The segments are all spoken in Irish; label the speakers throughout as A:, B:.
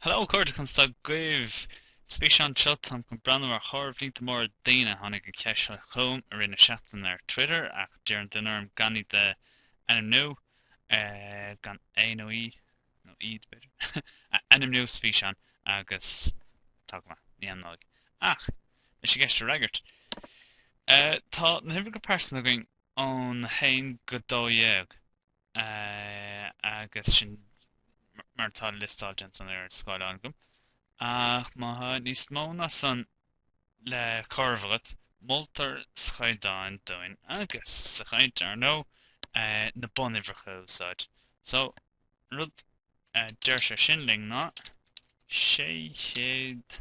A: Hello, Cairde, Conas tá agaibh? Sa bhfíseán seo, táim chun breathnú ar chomhaireamh líonta móra daoine. Tháinig an cheist seo chugam i rith na seachtaine ar Twitter ach d'iarr an duine orm gan iad a ainmniú, gan é nó í, nó iad b'fhéidir, a ainmniú sa bhfíseán agus tá go maith, ní ainmneoidh. Ach, leis an gceist a fhreagairt, tá na huimhreacha pearsanta againn ón 1 go 12. agus sin mar atá liostáilte ansan ar an scáileán agam, ach má tá níos mó ná san le comhaireamh agat, moltar sa chaighdeán dúinn agus sa chaint, ar ndóigh, na bunuimhreacha a úsáid. So, an rud a deir sé sin linn ná, 600.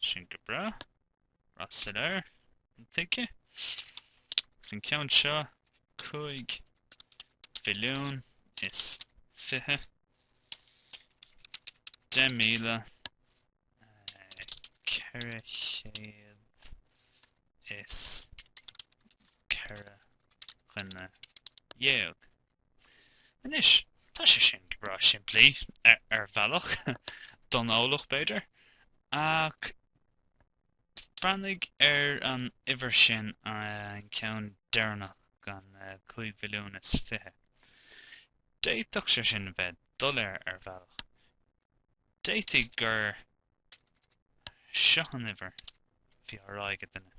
A: Sin go breá. Breá soiléir, intuigthe. Agus an ceann seo, cúig mhilliún is fiche, deich míle, ceithre chéad is ceithre dhuine dhéag. Anois, tá sé sin go breá simplí, ar bhealach, don eolach, b'fhéidir, ach breathnaigh ar an uimhir sin, an ceann deireanach den chúig mhilliún is fiche. D'fhéadfadh sé sin a bheith doiléir, ar bhealach. D'fhéadfaí gur seo an uimhir a bhí á rá ag an duine.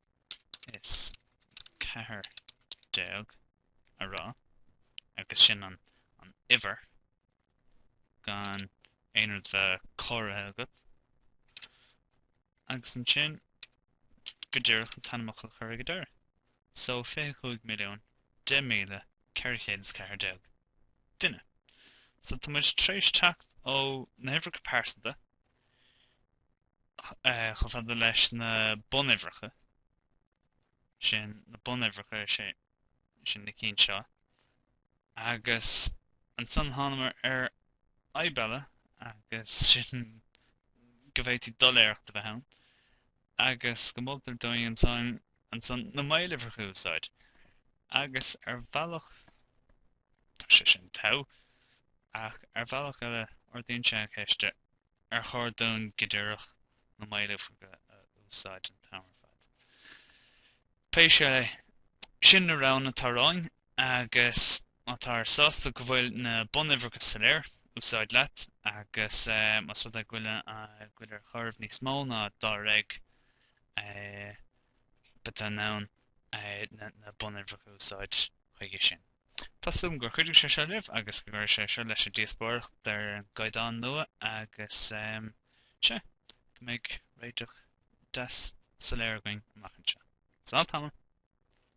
A: is ceathair déag a rá, agus sin an uimhir gan aon rud bheith comhairthe agat. Agus ansin go díreach an t-ainmfhocal a chur ag deireadh. So 25,010,414 duine. So tá muid tréis teacht ó na huimhreacha pearsanta chomh fada leis na bunuimhreacha sin, na bunuimhreacha sin na cinn seo, agus ansan thánamar ar fhadhb eile agus sin go bhféadfaí doiléireacht a bheith ann agus go moltar dúinn ansan na maoluimhreacha a úsáid. Agus ar bhealach tá sé sin togha ach ar bhealach eile ardaíonn sé an cheist ar chóir dúinn go díreach na maoluimhreacha a úsáid an t-am ar fad? Pé scéal é, sin na roghanna atá romhainn agus má táthar sásta go bhfuil na bunuimhreacha soiléir, úsáid leat agus más rud é go bhfuil ar chomhaireamh níos mó ná dáréag, beidh tú in ann na bunuimhreacha a úsáid chuige sin. Tá súil agam gur chuidigh sé seo libh agus go gcuirfidh sé seo leis an díospóireacht ar an gcaighdeán nua agus sé go mbeidh réiteach deas soiléir againn amach anseo. Slán tamall!